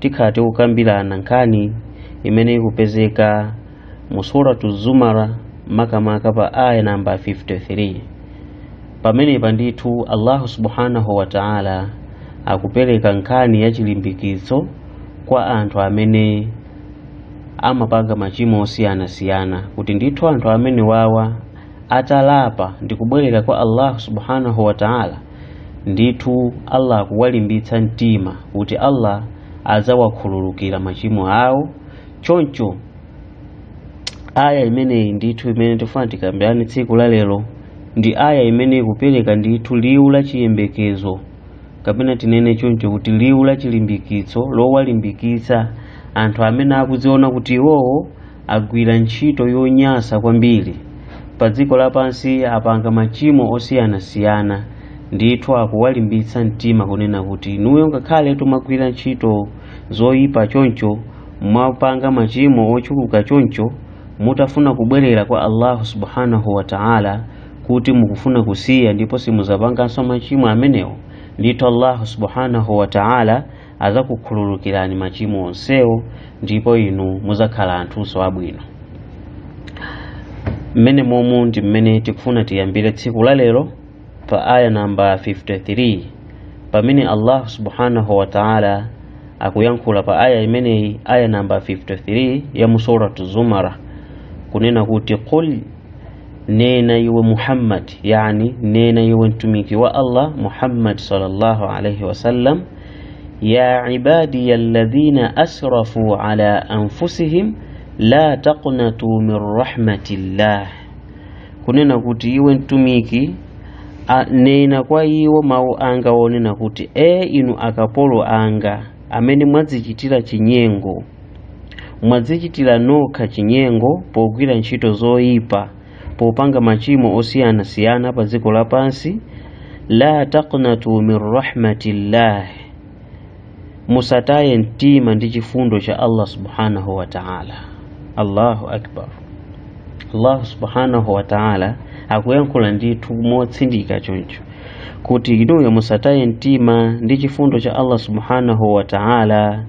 tikhala tikukambirana nkhani imene ikupezeka mu suratu zumara makamaka pa aya namba 53 pamenepa ndithu allahu subhanahu wa taala akupereka nkhani ya chilimbikitso kwa anthu amene amapanga machimo osiyanasiyana kuti ndithu anthu amene wawa atalapa ndi kubwerera kwa allahu subhanahu wa taala ndithu allah akuwalimbitsa mtima kuti allah adzawakhululukira machimo awo choncho aya imeneyi ndithu imene tifuna tikambirane tsiku la lero ndi aya imene ikupereka ndithu liwu la chiyembekezo kapena tinene choncho kuti liwu la chilimbikitso lowalimbikitsa anthu amene akudziona kuti iwowo agwira ntchito yonyasa kwambiri pa dziko lapansi apanga machimo osiyanasiyana ndithu akuwalimbitsa mtima kunena kuti inuyo ngakhale mwagwira ntchito zoyipa choncho mwapanga machimo ochuluka choncho mutafuna kubwerera kwa allahu subhanahu wa ta'ala kuti mukufuna kusiya ndipo simuzapanganso machimo amenewo ndithu allahu subhanahu wa ta'ala adzakukhululukirani machimo onsewo ndipo inu mudzakhala anthunso abwino mmene momu ndi mmene tikufuna tiyambire tsiku la lero pa aya namba 53 pamene allahu subhanahu wa taala akuyankhula pa aya imeneyi aya namba 53 ya mu suratu zumara kunena kuti qul nena iwe muhammad yani nena iwe mtumiki wa allah muhammad sallallahu alaihi wasallam ya ibadiya alladhina asrafu ala anfusihim la taqnatu min rahmatillah kunena kuti iwe mtumiki a- nena kwa iwo mawu anga wonena kuti e inu akapolo anga amene mwadzichitira chinyengo mwadzichitira nokha chinyengo pogwira ntchito zoyipa popanga machimo osiyanasiyana pa dziko lapansi la taqnatu min rahmatillah musataye mtima ndi chifundo cha allah subhanahu wa taala allahu akbar allahu subhanahu wa taala akuyankhula ndithu motsindika choncho kuti inuyo musataye mtima ndi chifundo cha allah subhanahu wa taala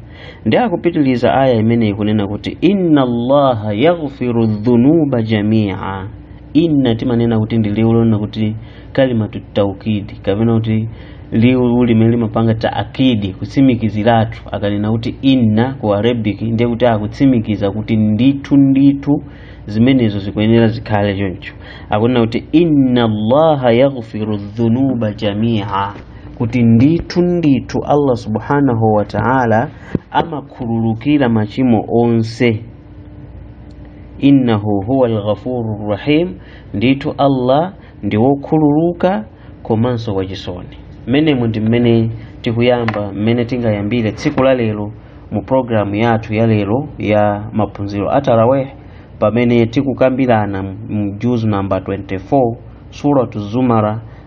ndi akupitiliza aya imeneyi kunena kuti inna allaha yaghfiru dhunuba jamia inna timanena kuti ndi liwu lonena kuti kalimatu taukidi kapena kuti liwu limene limapanga taakidi kutsimikiziratu akanena kuti inna ku arabic ndiye kuti akutsimikiza kuti ndithu ndithu zimenezo zikuyenera zikhale choncho akunena kuti inna allaha yaghfiru dhunuba jamia kuti ndithu ndithu allah subhanahu wa ta'ala amakhululukira machimo onse innahu huwa alghafuru rahim ndithu allah ndi wokhululuka komanso wachisoni mmenemo ndi mmene tikuyamba mmene tingayambire tsiku la lero mu programu yathu ya lero ya maphunziro a taraweh pamene tikukambirana mu juzu namba 24 suratu zumara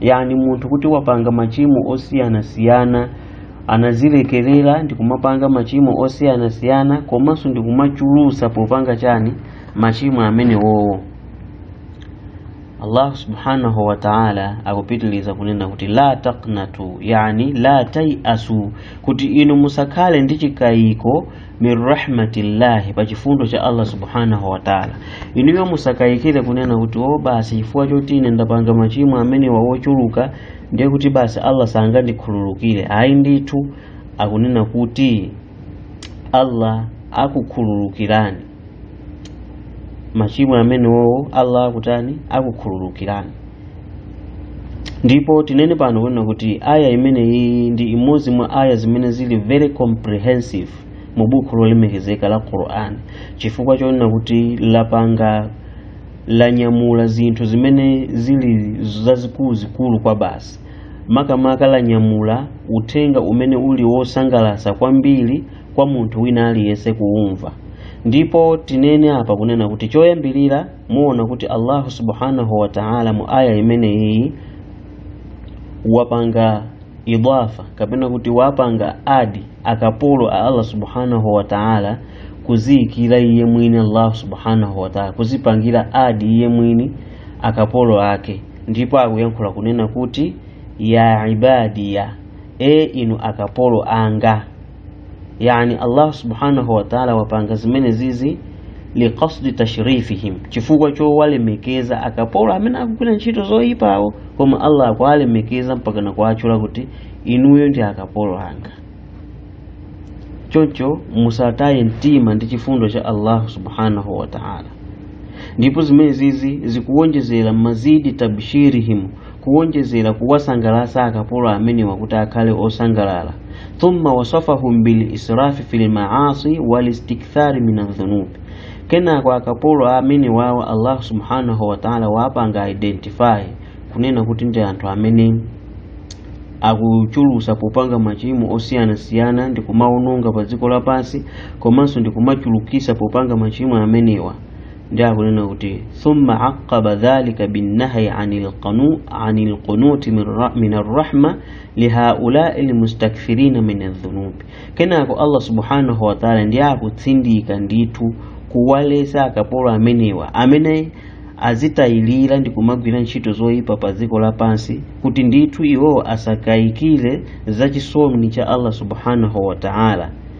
yani munthu kuti wapanga machimo osiyanasiyana anazilekerera ndi kumapanga machimo osiyanasiyana komanso ndi kumachulusa popanga chani machimo amenewowo allah subhanahu wa taala akupitiliza kunena kuti la taknatu yani la tayasu kuti inu musakhale ndi chikayiko min rahmatillahi pa chifundo cha allah subhanahu wa taala inuyo musakayikire kunena kuti o basi chifukwa choti ine ndapanga machimo amenewa wochuluka ndiye kuti basi allah sangandikhululukire ayi ndithu akunena kuti allah akukhululukirani machimo amenewowo allah akutani akukhululukirani ndipo tinene pano kunena kuti aya imeneyi ndi imodzi mwa aya zimene zili very comprehensive mu buku lolemekezeka la quran chifukwa chonena kuti lapanga lanyamula zinthu zimene zili zazikuluzikulu kwabasi makamaka lanyamula uthenga umene uli wosangalatsa kwambiri kwa munthu wina aliyense kuumva ndipo tinene apa kunena kuti choyambirira muona kuti allahu subhanahu wa ta'ala mu aya imeneyi wapanga idafa kapena kuti wapanga adi akapolo a allah subhanahu wa ta'ala kuziyikira iye mwini allahu subhanahu wa ta'ala kuzipangira adi iye mwini akapolo ake ndipo akuyankhula kunena kuti ya ibadiya e inu akapolo anga yani allah subhanahu wataala wapanga zimene zizi liqasdi tashrifihim chifukwa chowalemekeza akapolo amene akugwira ntchito zoyipawo koma allah akuwalemekeza mpakana kuwatchula kuti inuyo ndi akapolo anga choncho musataye mtima ndi chifundo cha allah subhanahu wataala ndipo zimene zizi zikuwonjezera mazidi tabshirihim kuwonjezera kuwasangalatsa akapolo amenewa kuti akhale osangalala thumma wasafahum bil israfi fil maasi wal istikthari min adh-dhunub kenako akapolo amene wawo Allah subhanahu wa ta'ala wapanga identify kunena kuti ndi anthu amene akuchulusa popanga machimo osiyanasiyana ndi kumawononga pa dziko lapansi komanso ndi kumachulukisa popanga machimo amenewa ndiye akunena kuti thumma aqaba dhalika binnahyi anil qanu- anil qunuti min ra- min arrahma lihaulai lmustakthirina min adhunubi kenako allah subhanahu wataala ndiye akutsindika ndithu kuwalesa akapolo amenewa amene azitayilira ndi kumagwira ntchito zoyipa pa dziko lapansi kuti ndithu iwowo asakayikire za chisoni cha allah subhanahu wataala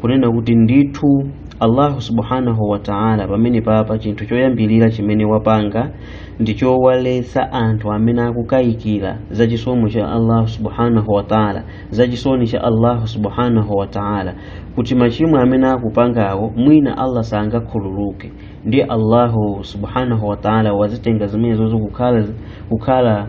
kunena kuti ndithu allahu subhanahu wa ta'ala pamene papa chinthu choyambirira chimene wapanga ndi chowaletsa anthu amene akukayikira za chisomo cha allahu subhanahu wa ta'ala za chisoni cha allahu subhanahu wa ta'ala kuti machimo amene akupangawo mwina allah sangakhululuke ndiye allahu subhanahu wa ta'ala wazitenga zimenezozo kukhala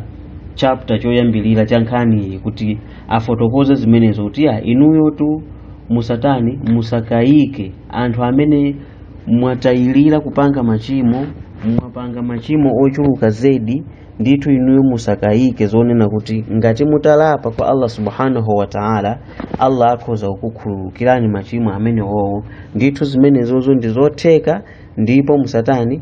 chapter choyambirira cha nkhaniyi kuti afotokoze zimenezo kuti ya inuyotu musatani musakayike anthu amene mwatayilira kupanga machimo mwapanga machimo ochuluka zedi ndithu inuyo musakayike zonena kuti ngati mutalapa kwa allah subhanahu wa taala allah akhoza kukukhululukirani machimo amenewowo ndithu zimenezozo ndi zotheka ndipo musatani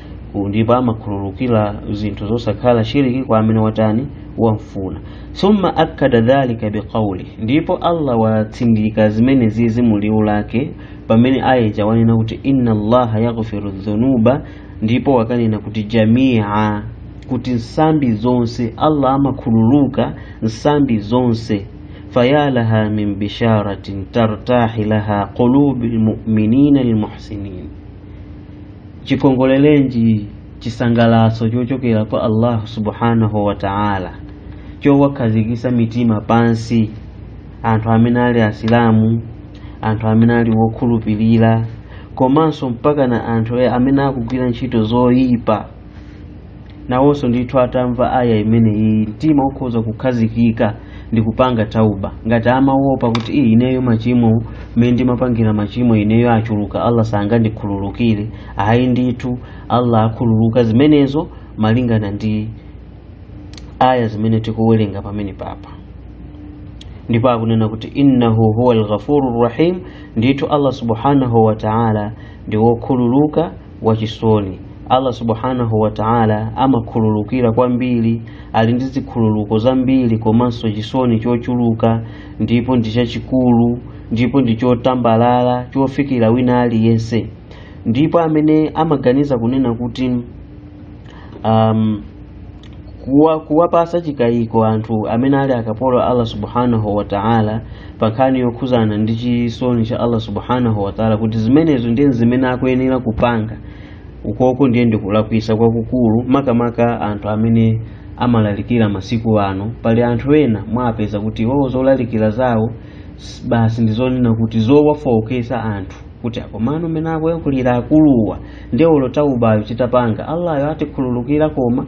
Ndipo amakhululukira zinthu zosakhala shiriki kwa amene watani wamfuna thumma akkada dhalika biqaulihi ndipo allah watsindika zimenezizi mu liwu lake pamene ayeja wanena kuti inna allaha yaghfiru dhunuba ndipo wakanena kuti jamia kuti nsambi zonse allah amakhululuka nsambi zonse fayalaha min bisharatin tartahu laha qulubu lmuminina lmuhsinin chikongolelenji chisangalatso chochokera kwa allahu subhanahu wa ta'ala chowakhazikisa mitima pansi anthu amene ali asilamu anthu amene ali wokhulupirira komanso mpaka na anthu amene akugwira ntchito zoyipa nawonso ndithu atamva aya imeneyi mtima ukhoza kukhazikika ndi kupanga tauba ngati amaopa kuti ii ineyo machimo mmene ndimapangira machimo ineyo achuluka allah sangandikhululukire ayi ndithu allah akhululuka zimenezo malingana ndi aya zimene tikuwerenga pamene papa ndipo akunena kuti innahu huwa lghafuru rahim ndithu allah subhanahu wa taala ndi wokhululuka wachisoni allah subhanahu wa ta'ala amakhululukira kwambiri ali ndi zikhululuko zambiri komanso chisoni chochuluka ndipo ndi chachikulu ndipo ndi chotambalala chofikira wina aliyense ndipo amene amaganiza kunena kuti um, kuwa, kuwapasa chikayiko anthu amene ali akapolo a allah subhanahu wa ta'ala pa nkhani yokhuzana ndi chisoni cha allah subhanahu wa ta'ala kuti zimenezo ndiye zimene akuyenera kupanga ukoko nde ndikulakwisa kwakukulu makamaka anthu amene amalalikira masiku ano pali anthu ena mwapeza kuti iwowo zolalikira zawo s- basi ndizonena kuti zowafookesa anthu kuti akomano mene akuyankhulira akuluwa ndiye olo taubayo titapanga allayo atikhululukira koma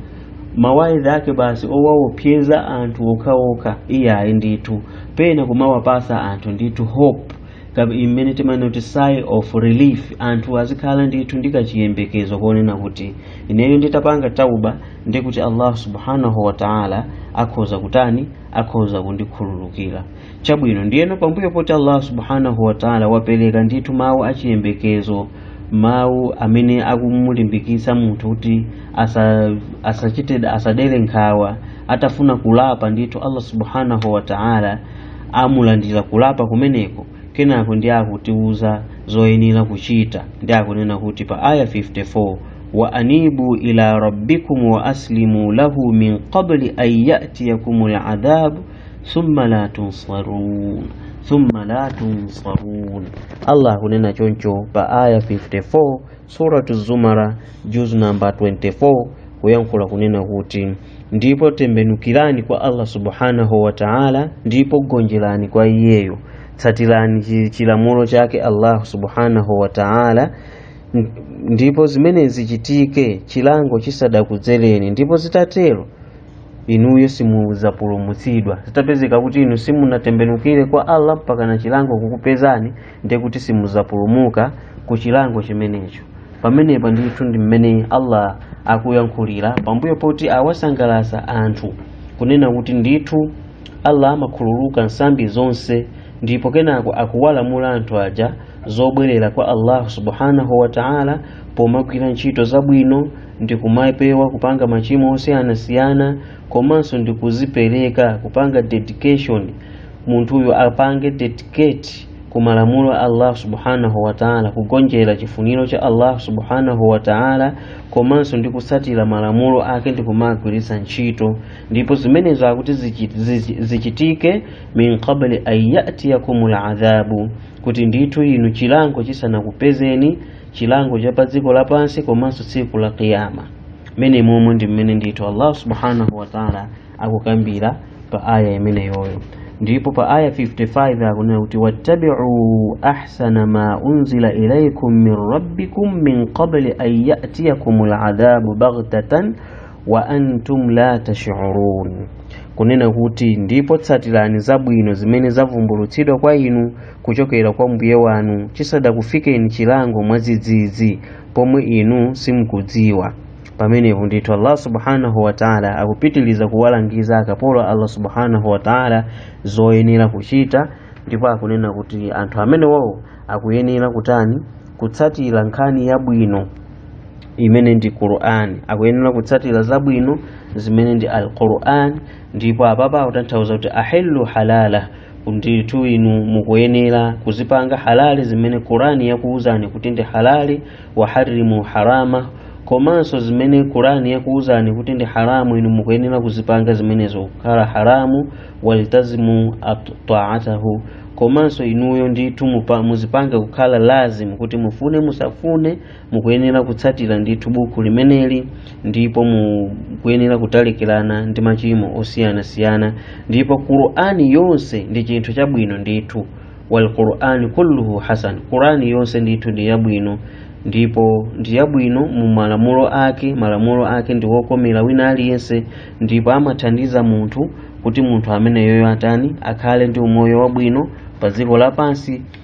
mawaidha ake basi owawopyeza anthu okhaokha iyayi ndithu pena kumawapasa anthu ndithu hope kabe imene timanena kuti sigh of relief anthu azikhala ndithu ndi kachiyembekezo konena kuti ineyo nditapanga tauba ndi kuti allah subhanahu wa taala akhoza kutani akhoza kundikhululukira chabwino ndiyeno pambuyo poti allah subhanahu wataala wapereka ndithu mawu achiyembekezo mawu amene akumulimbikitsa munthu kuti asa, asachite asadere nkhawa atafuna kulapa ndithu allah subhanahu wataala amulandira kulapa kumeneko kenako ndi akutiuza zoyenera kuchita ndi akunena kuti pa aya 54 wa anibu ila rabbikum wa aslimu lahu min qabli an yatiyakum ladhabu thumma la tunsarun thumma la tunsarun allah akunena choncho pa aya 54 suratu zumar juz namba 24 kuyankhula kunena kuti ndipo tembenukirani kwa allah subhanahu wa taala ndipo gonjerani kwa iyeyo tsatirani chi- chilamulo chake allah subhanahu wa taala N- ndipo zimenezi zichitike chilango chisadakudzereni ndipo zitatero inuyo simudzapulumutsidwa zitapezeka kuti inu simunatembenukire kwa allah mpakana chilango kukupezani ndiye kuti simudzapulumuka ku chilango chimenecho pamenepa ndithu ndi mmene allah akuyankhulira pambuyo poti awasangalatsa anthu kunena kuti ndithu allah amakhululuka nsambi zonse ndipo kenako akuwalamula anthu aja zobwerera kwa allahu subhanahu wa taala pomagwira ntchito zabwino ndikumapewa kupanga machimo osiyanasiyana komanso ndikuzipereka kupanga dedication munthuyo apange dedicate ku malamulo a allah subhanahu wa taala kugonjera chifuniro cha allah subhanahu wa taala komanso ndi kutsatira malamulo ake ndi kumagwiritsa ntchito ndipo zimenezo akuti zichi- zichi- zichitike min qabli an yatiyakum ladhabu kuti ndithu inu chilango chisanakupezeni chilango cha pa dziko lapansi komanso tsiku la kiyama mmenemomo ndi mmene ndithu allah subhanahu wataala akukambira pa aya imeneyoyo ndipo pa aya 55 akunena kuti wattabiu ahsana ma unzila ilaikum min rabbikum min qabli an yatiyakum ladhabu baghtatan wa antum la tashurun kunena kuti ndipo tsatirani zabwino zimene zavumbulutsidwa kwa inu kuchokera kwa mbuye wanu chisadakufikeni chilango mwadzidzidzi pomwe inu simukudziwa pamenepo ndithu allah subhanahu wataala akupitiliza kuwalangiza akapolo a allah subhanahu wataala zoyenera kuchita ndipo akunena kuti anthu amenewowo akuyenera kutani kutsatira nkhani yabwino imene ndi qur'an akuyenera kutsatira zabwino zimene ndi al qur'an ndipo apapa akutanthauza kuti ahillu halala ndithu inu mukuyenera kuzipanga halali zimene qurani yakuwuzani kuti ndi halali wa harimu harama komanso zimene qurani yakuwuzani kuti ndi haramu inu mukuyenera kuzipanga zimenezo kukhala haramu waltazimu taatahu komanso inuyo ndithu mupa- muzipange kukhala lazimu kuti mufune musafune mukuyenera kutsatira ndithu buku limeneli ndipo mukuyenera kutalikirana ndi machimo osiyanasiyana ndipo qur'ani yonse ndi chinthu chabwino ndithu walqur'ani kulluhu hasan qur'ani yonse ndithu ndi yabwino ndipo ndi yabwino mu malamulo ake malamulo ake ndi wokomera wina aliyense ndipo amathandiza munthu kuti munthu ameneyoyo atani akhale ndi umoyo wabwino pa dziko lapansi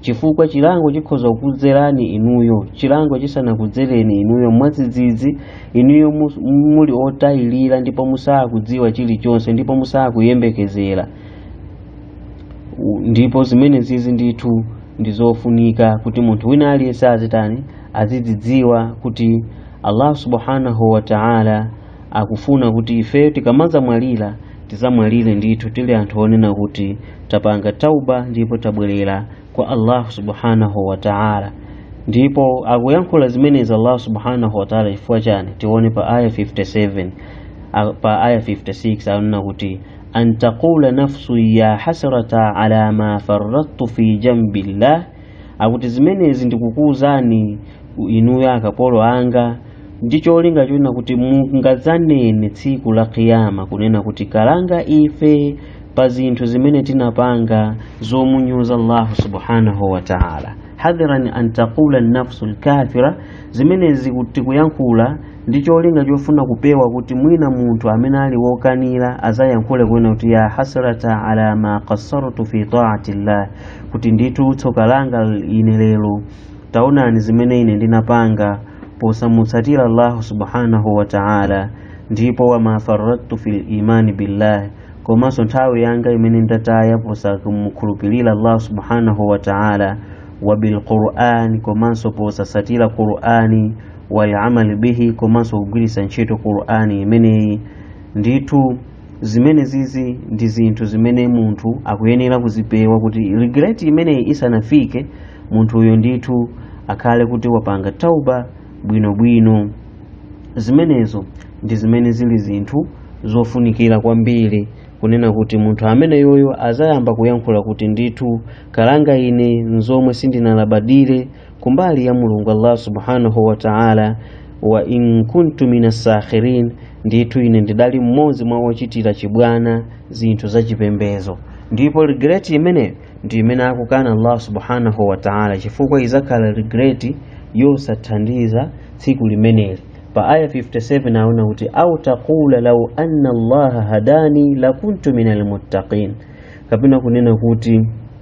chifukwa chilango chikhoza kukudzerani inuyo chilango chisanakudzereni inuyo mwadzidzidzi inuyo mus- muli otayilira ndipo musakudziwa chilichonse ndipo musakuyembekezera ndipo zimenezizi ndithu ndi zofunika kuti munthu wina aliyense azitani azidzidziwa kuti allah subhanahu wa ta'ala akufuna kuti ifeyo tikamadzamwalira tidzamwalire ndithu tili anthu onena kuti tapanga tauba ndipo tabwerera kwa allahu subhanahu wataala ndipo akuyankhula zimenezi allahu subhanahu wataala chifukwa chani tione pa aya 57 a- pa aya 56 akunena kuti an taqula nafsu ya hasrata ala ma farrattu fi jambillah akuti zimenezi ndikukuuzani inuyo akapolo anga ndi cholinga chonena kuti mungadzanene tsiku la kiyama kunena kuti kalanga ife pa zinthu zimene tinapanga zomunyoza allahu subhanahu wa taala hadhiran an taqula nafsu lkafira zimenezi tikuyankhula ndi cholinga chofuna kupewa kuti mwina munthu amene ali wokanira azayankhule kunena kuti ya hasrata ala ma qassartu fi taati llah kuti ndithu tsoka langa ine lero taonani zimene ine ndinapanga posamutsatira allahu subhanahu wa ta'ala ndipo wama faradtu fil imani billahi komanso nthawi yanga imene ndataya posamukhulupirira allahu subhanahu wa ta'ala wa bilqur'ani komanso posatsatira qur'ani walamali bihi komanso kugwiritsa ntchito qur'ani imeneyi ndithu zimenezizi ndi zinthu zimene munthu akuyenera kuzipewa kuti regret imeneyi isanafike munthuyo ndithu akhale kuti wapanga tauba bwinobwino zimenezo ndi zimene zili zinthu zofunikira kwambiri kunena kuti munthu ameneyoyo azayamba kuyankhula kuti ndithu kalanga ine nzomwe sindinalabadire kumbali ya mulungu allah subhanahu wa ta'ala wa in kuntu minas sakhirin ndithu ine ndidali mmodzi mwa ochitira chibwana zinthu zachipembezo ndipo regret imeneyi ndi imene akukana allah subhanahu wa ta'ala chifukwa izakhala regret yosathandiza tsiku limeneli pa aya 57 aona kuti au taqula lau anna allaha hadani lakuntu minal muttaqin kapena kunena kuti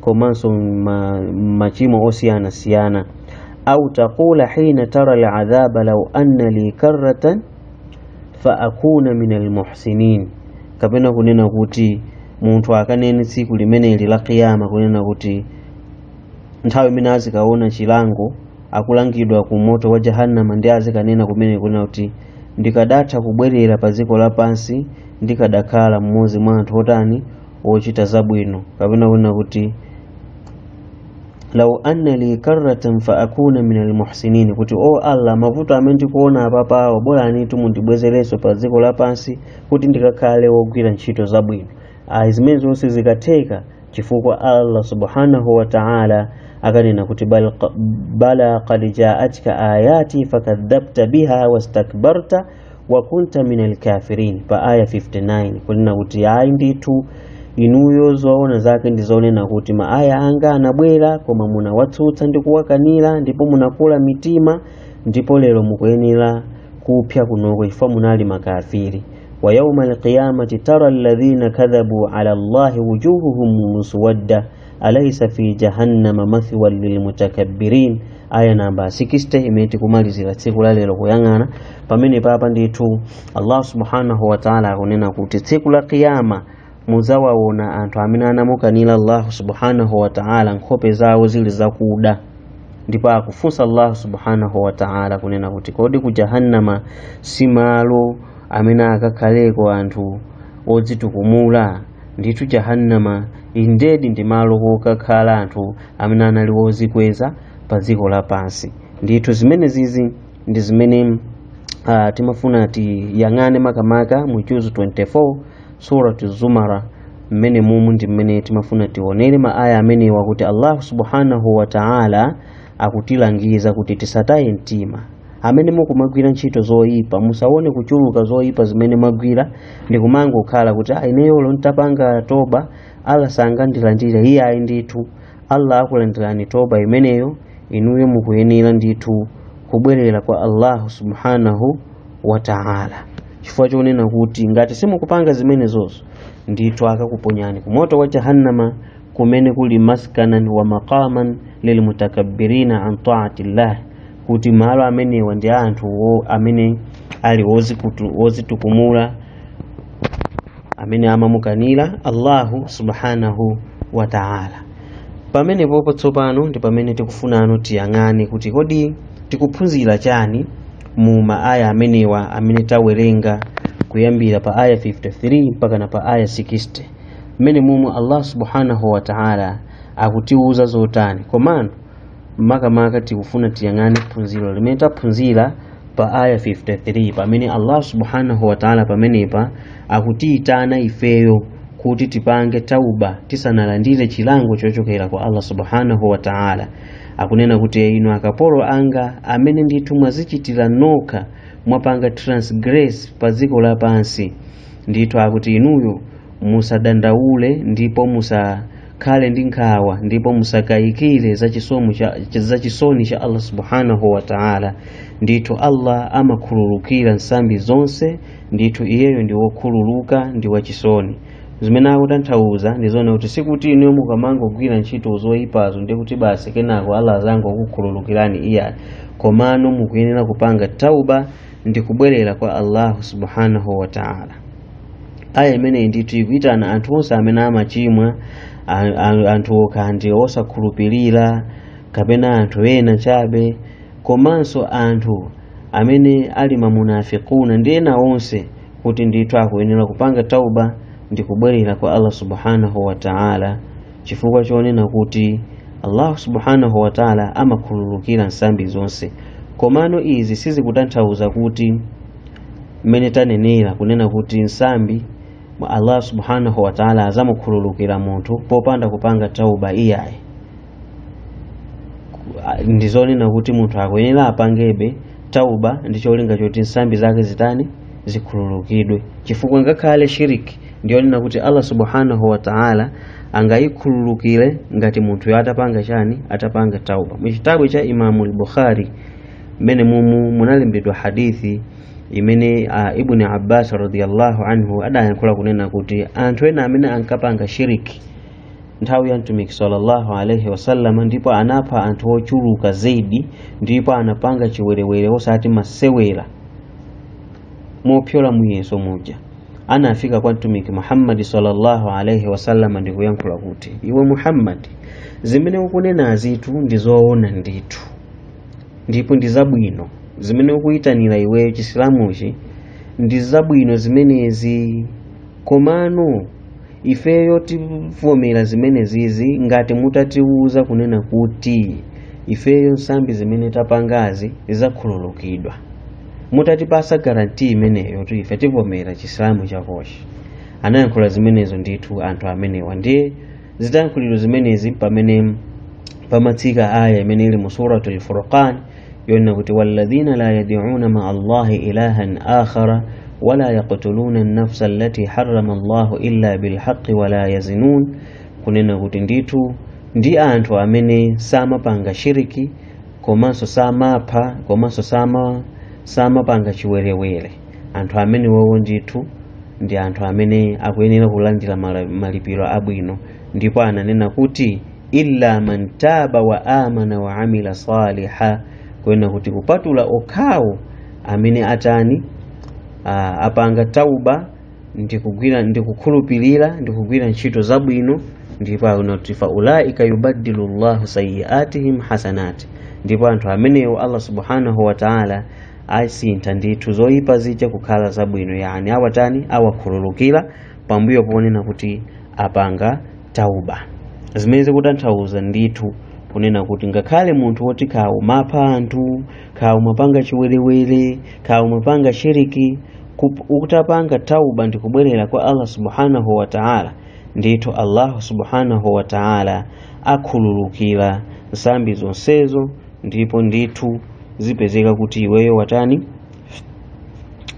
komanso ma, machimo osiyana siyana au taqula hina tara aladhaba law anna li karratan fa akuna min almuhsinin kapena kunena kuti munthu akanene tsiku limeneli la kiyama kunena kuti nthawi imene azikaona chilango akulangidwa ku moto wa jahannama ndi azikanena kumene kunena kuti ndikadatha kubwerera pa dziko lapansi ndikadakhala mmodzi mwa anthu otani wochita zabwino kapena kunena kuti lau anna li karratan fa akuna min almuhsinin kuti o allah mavuto amene ndikuona apapawo bolani tu mundibwezerenso pa dziko lapansi kuti ndikakhale wogwira ntchito zabwino ayi zimenezo sizikatheka chifukwa allah subhanahu wa ta'ala akanena kuti bala qad jaatka ayati fakadhabta biha wastakbarta wa kunta minal kafirin pa aya 59 kunena kuti ayi ndithu inuyo zoona zake ndi zonena kuti ma aya anga anabwera koma munawatsutsa ndi kuwakanira ndipo munakula mitima ndipo lero mukuyenera kupsa kunoko chifukwa munali makafiri wa yauma alqiyamati tara alladhina kadhabu ala allahi wujuhuhum muswadda alaysa fi jahannama mathwan lilmutakabbirin aya namba 60 imene tikumalizira tsiku la lero kuyang'ana pamenepapa ndithu allah subhanahu wa taala akunena kuti tsiku la kiyama muzawaona anthu amene anamukanira allah subhanahu wa taala nkhope zawo zili zakuda ndipo akufunsa allah subhanahu wa taala kunena kuti kodi ku jahannama si malo amene akakhaleko anthu odzitukumula ndithu jahannama indedi ndi malo wokakhala anthu amene anali wozikweza pa dziko lapansi ndithu zimene zizi ndi zimene uh, timafuna tiyang'ane makamaka mu juzu 24 suratu zumar mmene mumu ndi mmene timafuna tionere ma aya amenewa kuti allahu subhanahu wa taala akutilangiza kuti tisataye mtima amene mukumagwira ntchito zoyipa musaone kuchuluka zoyipa zimene mwagwira ndikumangokhala kuti "Ah, ineyo olo ntapanga toba allah sangandilandire iyayi ndithu allah akulandirani toba imeneyo inuyo mukuyenera ndithu kubwerera kwa allahu subhanahu wa taala chifukwa chonena kuti ngati simukupanga zimenezozo ndithu akakuponyani ku moto wa jahannama kumene kuli maskanan wa maqaman lilmutakabbirina an taati llah kuti malo amenewa ndi a anthu wo- amene ali wozikutu- wozitukumula amene amamukanira allahu subhanahu wa taala pamenepopo tsopano ndi pamene tikufunano tiyang'ane kuti kodi tikuphunzira chani mu maaya amenewa amene tawerenga kuyambira pa aya 53 mpaka na pa aya 60 mmene momwe allah subhanahu wa ta'ala akutiwuza zotani komano makamaka tikufuna tiyang'ane phunziro limene taphunzira pa aya 53 pamene allah subhanahu wa ta'ala pamenepa akutiyitana ifeyo kuti tipange tauba tisanalandire chilango chochokera kwa allah subhanahu wa ta'ala akunena kuti inu akapolo anga amene ndithu mwazichitira nokha mwapanga transgress pa dziko lapansi Ndithu akuti inuyo musadandaule ndipo musakhale ndi nkhawa ndipo musakayikire za chisomo cha za chisoni cha Allah subhanahu wa ta'ala ndithu Allah amakhululukira nsambi zonse ndithu iyeyo ndi wokhululuka ndi wachisoni zimene akutanthauza ndi zona kuti sikuti inuyo mukamangogwira ntchito zoyipazo ndi kuti basi kenako Allah azangokukhululukirani iyayi komano mukuyenera kupanga tauba ndi kubwerera kwa allahu subhanahu wa taala aya imeneyi ndithu ikuitana anthu onse amene amachimwa a- a- anthu okha ndi osakhulupirira kapena anthu ena chabe komanso anthu amene ali mamunafikuna ndi ena onse kuti ndithu akuyenera kupanga tauba ndi kubwerera kwa allah subhanahu wa taala chifukwa chonena kuti allahu subhanahu wataala amakhululukira nsambi zonse komano izi sizikutanthauza kuti mmene tanenera kunena kuti nsambi allah subhanahu wataala azamukhululukira munthu popanda kupanga tauba iyayi ndi zonena kuti munthu akuyenera apangebe tauba ndi cholinga choti nsambi zake zitani zikhululukidwe chifukwa ngakhale shiriki ndi yonena kuti allah subhanahu wa ta'ala angayikhululukire ngati munthuyo atapanga chani atapanga tauba mu chitabu cha imamu al-bukhari mmene mumu munalembedwa hadithi imene uh, ibni abbas radiyallahu anhu adayankhula kunena kuti anthu ena amene ankapanga shiriki nthawi ya mtumiki sallallahu alaihi wasallama ndipo anapha anthu ochuluka zaidi ndipo anapanga chiwerewere osati masewera mopyola muyeso muja anafika kwa mtumiki muhammadi sallallahu alaihi wasallam ndi kuyankhula kuti iwe muhammadi zimene ukunenazitu ndi zoona ndithu ndipo ndi zabwino zimene ukuyitanira iweyo chisilamuchi ndi zabwino zimenezi komano ifeyo tivomera zimenezizi ngati mutatiwuza kunena kuti ifeyo nsambi zimene tapangazi zizakhululukidwa mutatipasa garanti imeneyo kuti ife tivomera chisilamu chakochi anayankhula zimenezo ndithu anthu amenewa ndiye zitayankhulidwa zimenezi mpamene pamatsika aya imene ili mu suratul furqan yonena kuti walladhina la yad'una ma'a allahi ilahan akhara wala yaqtuluna an-nafsa allati harrama allahu illa bilhaqqi wala yaznun kunena kuti ndithu ndi anthu amene samapanga shiriki komanso samapha komanso sama samapanga chiwerewere anthu amene wowo ndithu ndi anthu amene akuyenera kulandira mala- malipiro abwino ndipo ananena kuti illa man taba wa amana wa amila saliha kunena kuti kupatula okhawo amene atani ah, apanga tauba ndikugwira ndikukhulupirira ndikugwira ntchito zabwino ndipo akuti fa ulaika yubaddilu llahu sayiatihim hasanat ndipo anthu amenewo allah subhanahu wa taala asintha ndithu zoyipa zija kukhala zabwino yani awatani awakhululukira pambuyo ponena kuti apanga tauba zimene zikutanthauza ndithu kunena kuti ngakhale munthu woti kaya umapha anthu kaya umapanga chiwerewere kaya umapanga shiriki kuti utapanga tauba ndi kubwerera kwa allah subhanahu wa taala ndithu allahu subhanahu wa taala akhululukira nsambi zonsezo ndipo ndithu zipezeka kuti iweyo watani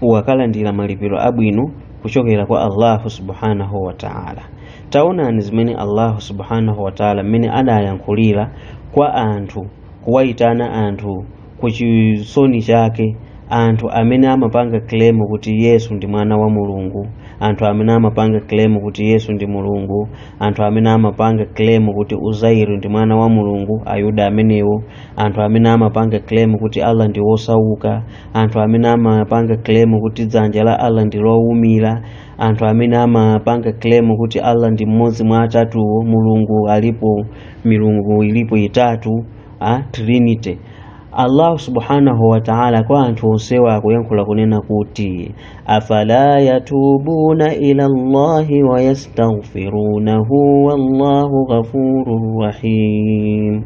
wakalandira malipiro abwino kuchokera kwa allahu subhanahu wa taala taonani zimene allahu subhanahu wa taala mmene adayankhulira kwa anthu kuwayitana anthu ku chisoni chake anthu amene amapanga claim kuti yesu ndi mwana wa mulungu anthu amene amapanga claim kuti yesu ndi mulungu anthu amene amapanga claim kuti uzairu ndi mwana wa mulungu ayuda amenewo anthu amene amapanga claim kuti allah ndi wosauka anthu amene amapanga claim kuti dzanja la allah ndi lowumira anthu amene amapanga claim kuti allah ndi mmodzi mwa atatuwo mulungu alipo milungu ilipo itatu a trinity allahu subhanahu wataala kwa anthu onsewa akuyankhula kunena kuti afala yatubuna ila llahi wayastaghfirunahu wallahu ghafurun rahim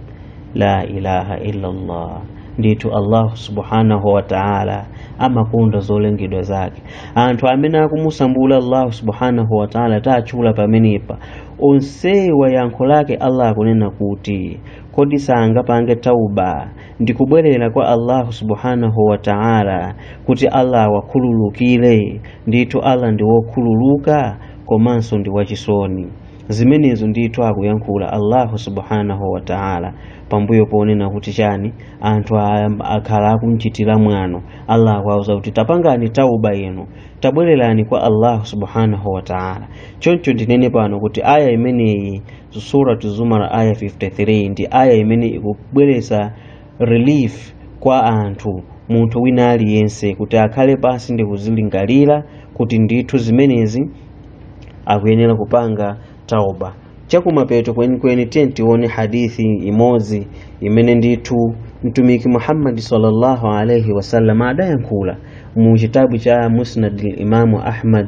la ilaha illallah ndithu allahu subhanahu wa taala amakonda zolengedwa zake anthu amene akumusambula allahu subhanahu wa taala tatchula pamenepa onsewa yankho lake allah akunena kuti kodi sangapange tauba ndi kubwerera kwa allahu subhanahu wa taala kuti allah awakhululukire ndithu allah ndi wokhululuka komanso ndi wachisoni zimenezo ndithu akuyankhula allahu subhanahu wa taala pambuyo ponena kuti chani anthu a- akhala akumchitira mwano allah akuwauza kuti tapangani tauba inu tabwererani kwa allahu subhanahu wa taala choncho ndinene pano kuti aya imeneyi suratu zumar aya 53 ndi aya imene ikubweretsa relief kwa anthu munthu wina aliyense kuti akhale pansi ndi kuzilingalira kuti ndithu zimenezi akuyenera kupanga tauba chakumapeto kwenikweni tiyeni tione hadithi imodzi imene ndithu mtumiki muhammadi sallallahu alaihi wasallam adayankhula mu chitabu cha musnad limamu ahmad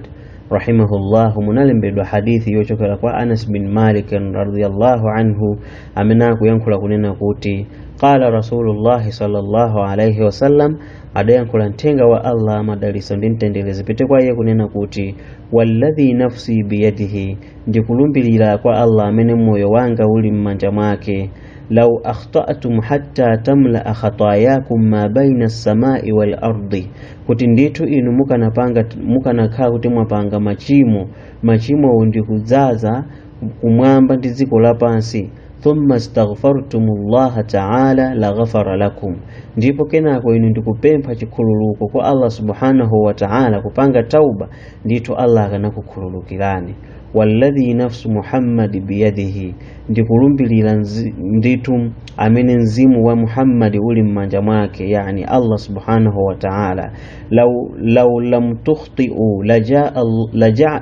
rahimahullahu munalembedwa hadithi yochokera kwa anas bin malik radiallahu anhu amene akuyankhula kunena kuti qala rasulullahi sallallahu alaihi wasallam adayankhula mthenga wa allah madaliso ndi mtendere zipite kwa iye kunena kuti walladhi nafsi biyadihi ndikulumbirira kwa allah amene moyo wanga uli m'manja mwake law akhtatum hatta tamlaa khatayakum ma baina as-samai wal ardi kuti ndithu inu mukanapanga mukanakhala kuti mwapanga machimo machimowo ndikudzaza kumwamba ndi dziko lapansi thumma staghfartumullaha taala laghafara lakum ndipo kenako inu ndikupempha chikhululuko kwa allah subhanahu wa taala kupanga tauba ndithu allah akanakukhululukirani walladhi nafsu muhammadi biyadihi ndikulumbilira nzi- ndithu amene mzimu wa muhammadi uli m'manja mwake yani allah subhanahu wa taala law, law lam tukhtiu lajaa laja,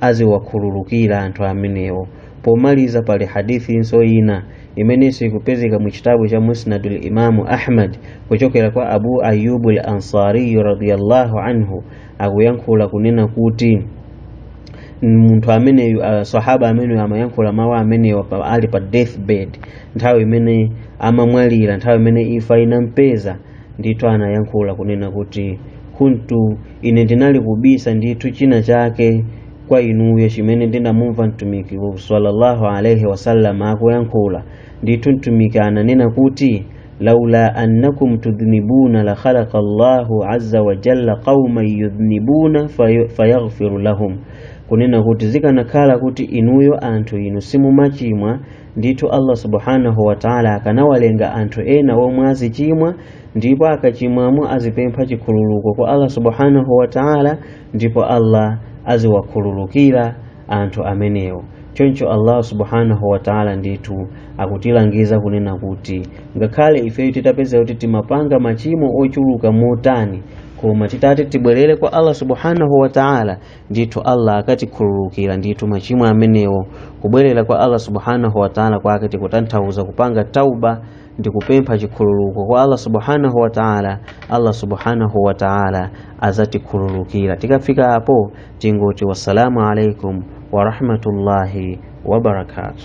aziwakhululukira anthu amenewo pomaliza pali hadithinso ina imenenso ikupezeka mu chitabu cha musnadu limamu ahmad kuchokera kwa abu ayubu l ansariyu radiallahu anhu akuyankhula kunena kuti munthu ameneyu uh, sahaba ameneyu amayankhula mawu amenewa pa- ali pa deathbed nthawi imene amamwalira nthawi imene imfa inampeza ndithu anayankhula kunena kuti kuntu ine ndinali kubisa ndithu china chake kwa inuyo chimene ndinamumva mtumiki sallallahu alaihi wasallam akuyankhula ndithu mtumiki ananena kuti laula annakum tudhnibuna la khalaqa allahu azza wa jalla qauman yudhnibuna fayu- fayaghfiru lahum kunena kuti zikanakhala kuti inuyo anthu inu simumachimwa ndithu allah subhanahu wataala akanawalenga anthu ena omwe azichimwa ndipo akachimwamo azipempha chikhululuko kwa allah subhanahu wataala ndipo allah aziwakhululukira anthu amenewo choncho allah subhanahu wataala ndithu akutilangiza kunena kuti ngakhale ifeyo titapeza kuti timapanga machimo ochuluka motani koma titati tibwerere kwa allah subhanahu wataala ndithu allah akatikhululukira ndithu machimo amenewo kubwerera kwa allah subhanahu wataala kwake tikutanthauza kupanga tauba ndi kupempha chikhululuko kwa allah subhanahu wataala allah subhanahu wataala azatikhululukira tikafika apo tingoti wassalamu alaikum warahmatullahi wabarakatuh